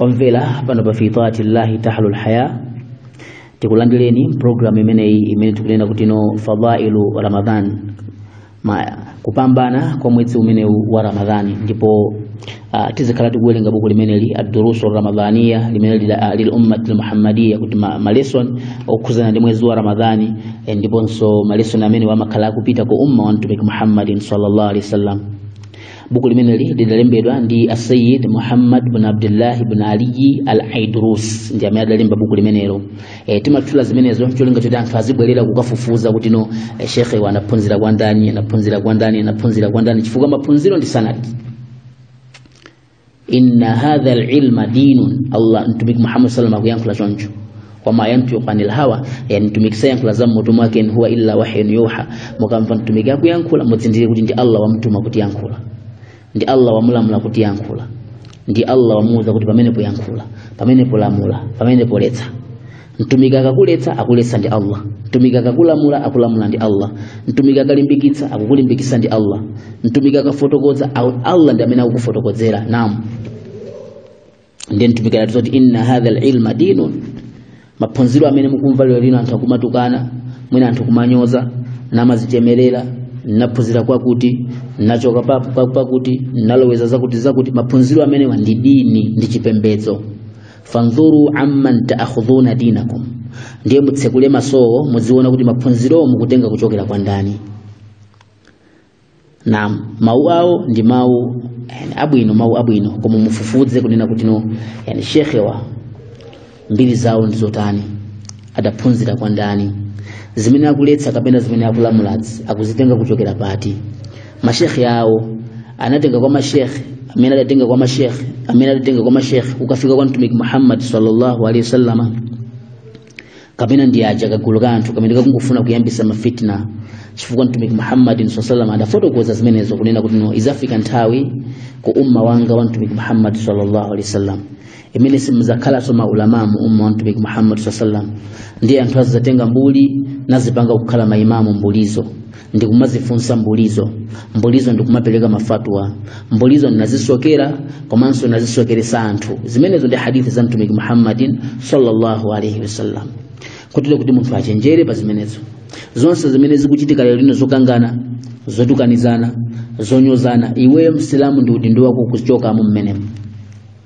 omvera pano pa fi taati llahi tahlul haya tikulandireni programu imeneyi imene tikunena kuti no fadailu ramadan kupambana kwa mwezi umenewu wa ramadhani ndipo uh, tizikhala tikuwerenga buku limeneli adurusu ramadhaniya limene lila- lil ummati lmuhammadiya kuti ma, ma lesson okhuzana ndi mwezi wa ramadhani eh, ndiponso ma lesson amene wamakhala akupita ku umma wa mtumiki muhammadin sallallahu alaihi wasallam buku limeneli lidalembedwa ndi asayid muhammad bin abdullahi bin aliyi al aidrus ndi amene adalemba buku limenelo e, timatchula zimenezo cholinga choti anthu azibwerera kukafufuza kuti no e, shekhewa anaphunzira kwa ndani anaphunzira kwa ndani anaphunzira kwa ndani chifukwa maphunziro ndi sanadi inna hadha alilma dinun allah mtumiki muhammad saa sallam akuyankhula choncho wama yantiqu anil hawa yani mtumiki sayankhula za mmutu mwake in huwa illa wahyun yuha mukamva mtumiki akuyankhula muzindikire kuti ndi allah wamtuma kuti yankhula ndi allah wamulamula kuti yankhula ndi allah wamuwuza kuti pamene poyankhula pamene polamula pamene poletsa mtumiki akakuletsa akuletsa ndi allah mtumiki akakulamula akulamula ndi allah mtumiki akalimbikitsa akukulimbikitsa ndi allah mtumiki akafotokoza au- allah ndi amene akukufotokozera naam ndiye mtumiki anatiuza kuti inna hadha lilma dinun maphunziro amene mukumva lero lino anthu akumatukana mwina anthu kumanyoza namadzichemerera naphunzira kwakuti nachoka pa- pa- pakuti naloweza zakuti zakuti maphunziro amenewa ndi dini ndi chipembedzo fandhuru amman taakhudhuna dinakum ndiye mutsekule masowo muziona kuti maphunzirowo mukutenga kuchokera kwa ndani naam mawu awo ndi mawu yani, abwino mawu abwino koma mufufuze kunena kuti no yani shekhewa mbiri zawo ndi zotani adaphunzira kwa ndani zimene akuletsa kapena zimene akulamulazi akuzitenga kuchokera pati mashekhe awo anatenga kwa mashekhe amene adatenga kwa mashekhe amene adatenga kwa mashekhe kukafika kwa mtumiki muhammad sallallahu alaihi wasallama kapena ndi aja kagulu ka anthu kamene kakungofuna kuyambisa mafitna chifukwa mtumiki muhammad saa sallam adafotokoza zimenezo kunena kuti no izafika nthawi ku umma wanga wa mtumiki muhammad sallallahu alaihi wasallam imene simuzakhalanso maulama mu umma wa mtumiki muhammad saa sallam ndiye anthu azidzatenga mbuli nazipanga kukhala maimamu mbulizo ndikumazifunsa mbulizo mbulizo ndikumapereka mafatwa mbulizo ndinazisokera komanso nazisokeresa anthu zimenezo ndi hadithi za mtumiki muhammadin sallallahu alaihi wasallam kotero kuti munthu achenjere pa zimenezo zonse zimene zikuchitika lero lino zokangana zotukanizana zonyozana iweyo msilamu ndi udindo wako kuchokamo mmenemo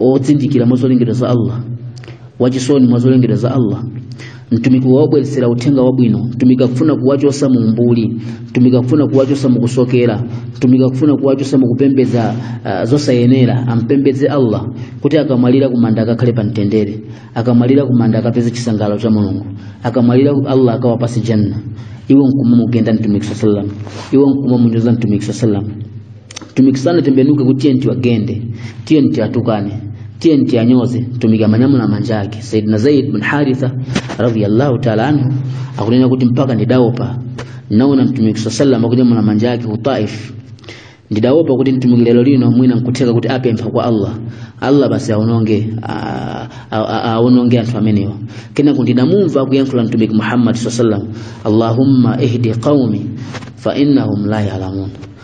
ozindikira mwa zolengedwa za allah wachisoni mwa zolengedwa za allah mtumiki wawabweresera uthenga wabwino mtumiki akufuna kuwachosa mu umbuli mtumiki akufuna kuwachosa mu kusokera mtumiki akufuna kuwachosa mu kupembedza uh, zosayenera ampembedze allah kuti akamwalira kumanda akakhale pa mtendere akamwalira kumanda akapeze chisangalalo cha mulungu akamwalira allah akawapase janna iwe nkumamugenda mtumiki saa salam iwe nkumamunyoza mtumiki saa salam mtumiki sanatembenuke kuti enti awagende enti atukane enti anyoze mtumiki amanyamula manja ake saidina zaid bin haritha radiyallahu taala anhu akunena kuti mpaka ndidaopa naona mtumiki saa salam akunyamula manja ake ku taif ndidaopa kuti mtumiki lero lino mwina nkutheka kuti apempha kwa allah allah basi awaononge a- a- a- aononge anthu amenewa kenako ndidamumva akuyankhula mtumiki muhammad saa salam allahumma ihdi qaumi fa innahum la yalamun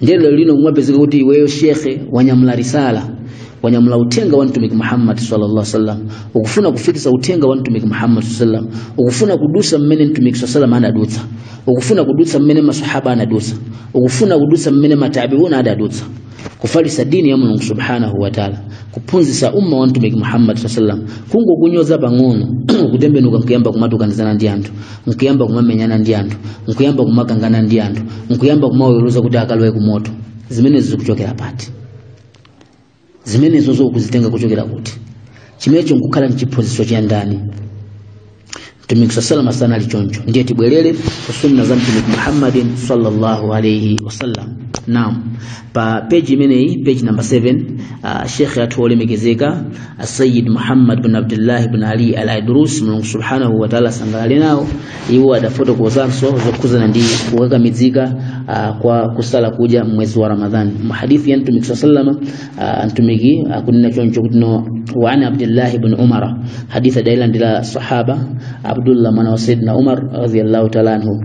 ndiye lero lino kumapezeka kuti iweyo shekhe wanyamula risala wanyamula uthenga wa mtumiki muhammad sallallahu alaihi wasallam ukufuna kufikisa uthenga wa mtumiki muhammad sallallahu alaihi wasallam ukufuna kudusa mmene mtumiki sallallahu alaihi wasallam anadutsa ukufuna kudutsa mmene masahaba anadutsa ukufuna kudutsa mmene matabiuna adadutsa kufalisa dini ya mulungu subhanahu wa taala kuphunzisa umma wa mtumiki muhammad sallallahu alaihi wasallam kungokunyoza pang'ono kutembenuka nkuyamba kumatukanizana ndi anthu nkuyamba kumamenyana ndi anthu nkuyamba kumakangana ndi anthu nkuyamba kumawaweruza kuti akalowe ku moto zimenezo zikuchokera pati zimenezo akuzitenga kuchokera kuti chimenecho nkukhala mchiphunzitso cha ndani mtumiki saa salama sanali choncho ndiye tibwerere ku sunna za mtumiki muhammadin sallallahu alaihi wasallam naam pa peji imeneyi peji namba 7 uh, shekhe athu olemekezeka asayid muhammad bin abdullah bin ali al aidrus mulungu subhanahu wataala asangalale nawo iwo adafotokozanso zokhuzana ndi kukakamizika uh, kwa kusala kuja mwezi wa ramadhani muhadithi ya mtumiki saa salama uh, mtumiki akunena choncho kutino wa an abdillahi bni umara hadithi adailandira sahaba abdullah mwana wa sayidina umar radiallahu taala anhu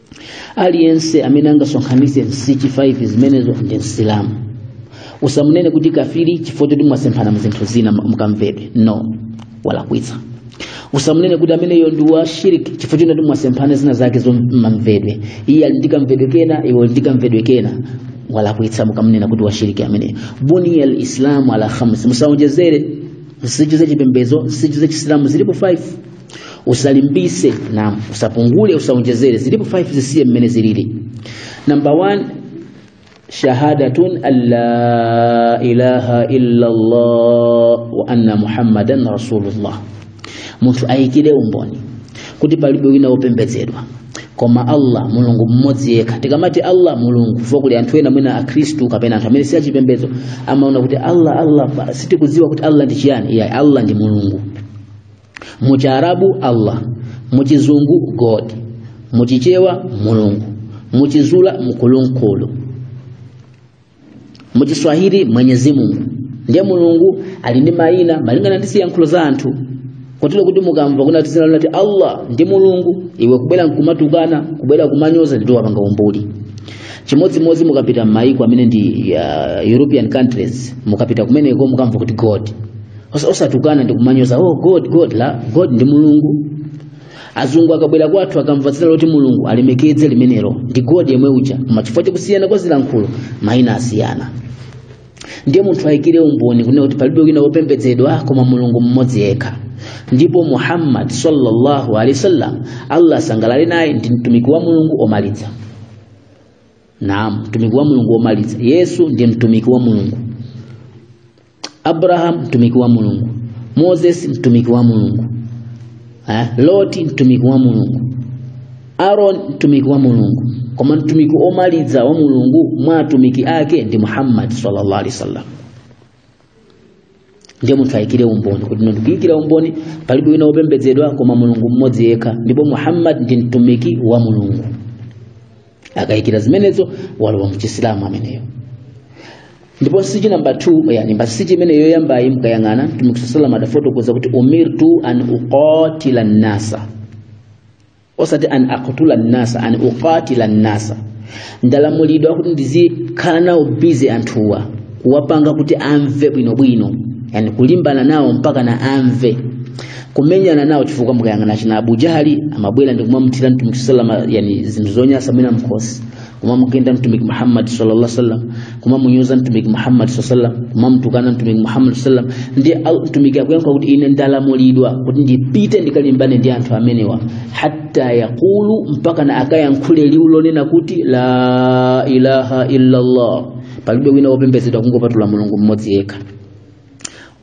aliyense amene angasonkhanitse nsichi 5 zimenezo ndi msilamu usamunene kuti kafiri chifukwa choti mwasemphana mzinthu zina mkamvedwe no walakwitsa usamunene kuti ameneyo ndi wa shiriki chifukwa choti mwasemphana zina zake zomamvedwe iye ali ndi kamvedwe kena iwe uli ndi kamvedwe kena walakwitsa mukamunena kuti wa shiriki ameneyo buniya lislamu ala khamsi musaonjezere nsichi za chipembedzo nsichi za chisilamu zilipo 5 usalimbikire na usapungule usaonjezere zilipo 5 zisiye mmene zilili number 1 shahadatun an la ilaha illa Allah wa anna muhammadan rasulullah munthu ayikire umboni kuti palibe wina wopembedzedwa koma allah mulungu mmodzi yekha tikamati allah mulungu chifukwa kuli anthu ena mwina akhristu kapena anthu amene si achipembedzo amaona kuti allah allah pa- sitikudziwa kuti allah ndi chiyani iyayi allah ndi mulungu mu chiarabu allah mu chizungu god mu chichewa mulungu mu chizulu mkulunkulu mu chiswahili mwenyezi mungu ndiye mulungu ali ndi mayina malingana ndi ziyankhulo za anthu kotero kuti mukamva kuti dzina lakuti allah ndi mulungu iwe kubwera nkumatukana kubwera kumanyoza ndiye wapanga umbuli chimodzimodzi mukapita m'mayiko amene ndi uh, european countries mukapita kumeneko mukamva kuti god Osa- osatukana ndi kumanyoza oh god god iyayi god ndi mulungu azungu akabwera kwathu akamva dzina loti mulungu alemekedze limenelo ndi god yemwe uja koma chifukwa chakusiyana kwa zilankhulo mayina asiyana ndiye munthu ayikire umboni kunena kuti palibe wina wopembedzedwa koma mulungu mmodzi yekha ndipo muhammad sallallahu alaihi wasallam allah asangalale naye ndi mtumiki wa mulungu omaliza naam mtumiki wa mulungu omaliza yesu ndi mtumiki wa mulungu Abraham mtumiki wa Mulungu, Moses mtumiki wa Mulungu, eh, Loti mtumiki wa Mulungu, Aaron mtumiki wa Mulungu, koma mtumiki omaliza wa Mulungu mwa atumiki ake ndi Muhammad sallallahu alaihi wasallam. Ndiye munthu ayikire umboni kuti ine ndikuyikira umboni palibe wina wopembedzedwa koma Mulungu mmodzi yekha, ndipo Muhammad ndi mtumiki wa Mulungu. akayikira zimenezo walowa mchisilamu ameneyo ndipo nsichi namba 2 yani pa nsichi imene yoyambayi mkayang'ana mtumiki saa salam adafotokoza kuti umirtu an uqatila nnasa osati an aqtula nnasa an uqatila nnasa ndalamulidwa kuti ndizikhala nawo busy anthuwa kuwapanga kuti amve bwinobwino yani kulimbana nawo mpaka na amve kumenyana nawo chifukwa mukayang'ana achina Abu Jahali amabwera ndi kumamthira mtumiki sallama yani zinthu zonyasa mwina mkhosi kumamugenda mtumiki Muhammad sallallahu alaihi wasallam kumamunyoza mtumiki Muhammad sallallahu alaihi wasallam kumamtukana mtumiki Muhammad sallallahu alaihi wasallam ndiye au- mtumiki akuyankha kuti ine ndalamulidwa kuti ndipite ndikalimbane ndi anthu amenewa hatta yaqulu mpaka na akayankhule liwu lonena kuti la ilaha illa Allah palibe wina wopembedzedwa kungopatula mulungu mmodzi yekha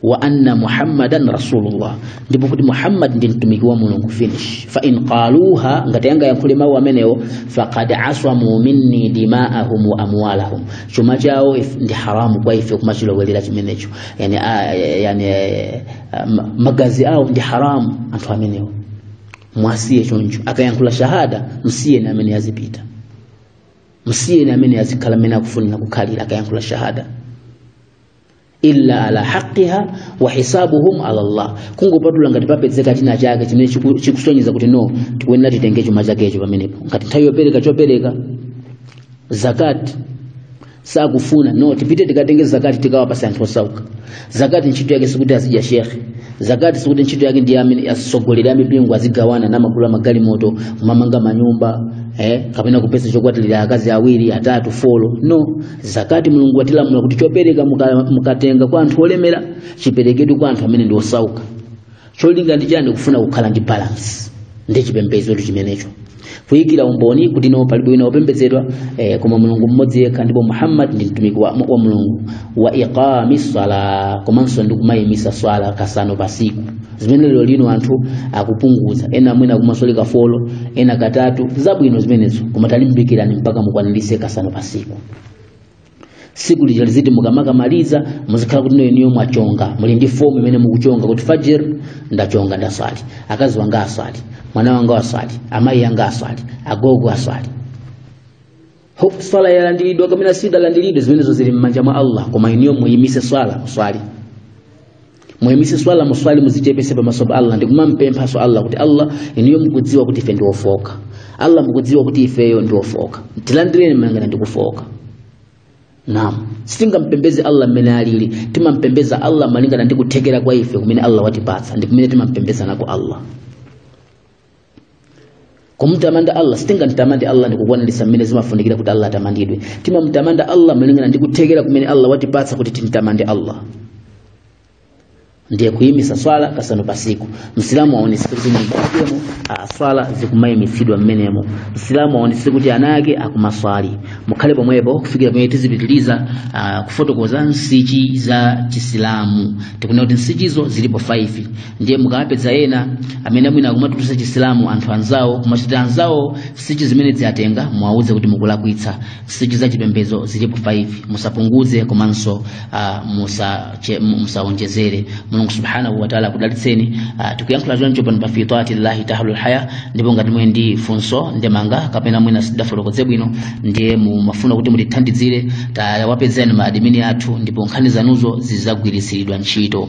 wa anna muhammadan rasulullah ndipo kuti muhammad ndi mtumiki wa mulungu finish fa in qaluha ngati angayankhule mawu amenewo faqad aswamu minni dima'ahum wa amwalahum chuma chawo if- ndi haramu kwa ife kumachilowelera chimenecho yani, a, yani eh, ma- magazi awo ndi haramu anthu amenewo mwasiye choncho akayankhula shahada msiyeni amene azipita msiyeni amene azikhala mmene akufunira kukhalira akayankhula shahada illa ala haqqiha wa hisabuhum ala Allah kungopatula ngati papezeka china chake chimene chiku- chikusonyeza kuti no tikuyenera titenge chuma chakecho pamenepo ngati nthawi yopereka chopereka zakati sakufuna no tipite tikatenge zakati tikawapasa anthu osauka zakati ntchito yake sikuti azidya shekhe zakati sikuti ntchito yake ndiye amene asogolere amipingo azigawana namagulira magalimoto kumamanga manyumba eh, kapena kupeza chokwatirira akazi awiri atatu folo no zakati mulungu watilamula kuti chopereka muka- mukatenga kwa anthu olemera chiperekedwe kwa anthu amene ndi osauka cholinga ndi chani kufuna kukhala ndi balance ndi chipembedzotu chimenecho kuyikira umboni kuti no palibe wina wopembedzedwa eh, koma mulungu mmodzi yekha ndipo muhammad ndi mtumiki wa, wa mulungu wa iqami swala komanso ndi kumayimisa swala kasanu pasiku zimene lero lino anthu akupunguza ena mwina kumaswali kafolo ena katatu zabwino zimenezo koma talimbikirani mpaka mukwanirise kasanu pasiku siku lija liziti mukamakamaliza muzikhala kuti no inuyo mwachonga muli ndi fomu imene mukuchonga kuti fajir ndachonga ndaswali akazi wanga aswali mwana wanga aswali amayi anga aswali agogo aswali Ho- swala yalandiridwa kapena sidalandiridwe zimenezo zili m'manja mwa allah koma inuyo muyimise swala muswali muyimise swala muswali muzichepese pamaso pa allah ndikumampemphaso allah kuti allah inuyo mukudziwa kuti ife ndiwofoka allah mukudziwa kuti ifeyo ndiwofoka tilandireni malingana ndikufoka naam sitingampembeze allah mmene alili timampembeza allah malingana ndi kuthekera kwa ife kumene allah watipatsa ndi kumene timampembeza nako allah kumtamanda allah sitingamtamande allah ndikukwaniritsa mmene zimafunikira kuti allah atamandidwe timamtamanda allah malingana ndi kuthekera kumene allah watipatsa kuti timtamande allah ndiye kuyimitsa swala kasanu pasiku msilamu aonetse kuti m'nyumba mwakemo swala zikumayimitsidwa mmenemo msilamu aonetse kuti ana ake akumaswali mukhale pomwepo kufikira pamene tizipitiriza ah, kufotokoza nsichi za chisilamu tikunena kuti nsichizo zilipo 5 ndiye mukawapeza ena amene mwina akumatulutsa chisilamu anthu anzawo kumachitira anzawo nsichi zimene adzitenga muwauze kuti mukulakwitsa nsichi za chipembedzo zilipo 5 musapunguze komanso uh, musache- mu- musaonjezere mulungu subhanahu wataala akudalitseni uh, tikuyankhula choncho pano pa fi taati llahi tahlul haya ndipo ngati muli ndi funso ndemanga kapena mwina sitinafotokoze bwino ndiye mumafuna kuti mutithandizire tawapezeni maadimini athu ndipo nkhani zanuzo zizagwiritsiridwa ntchito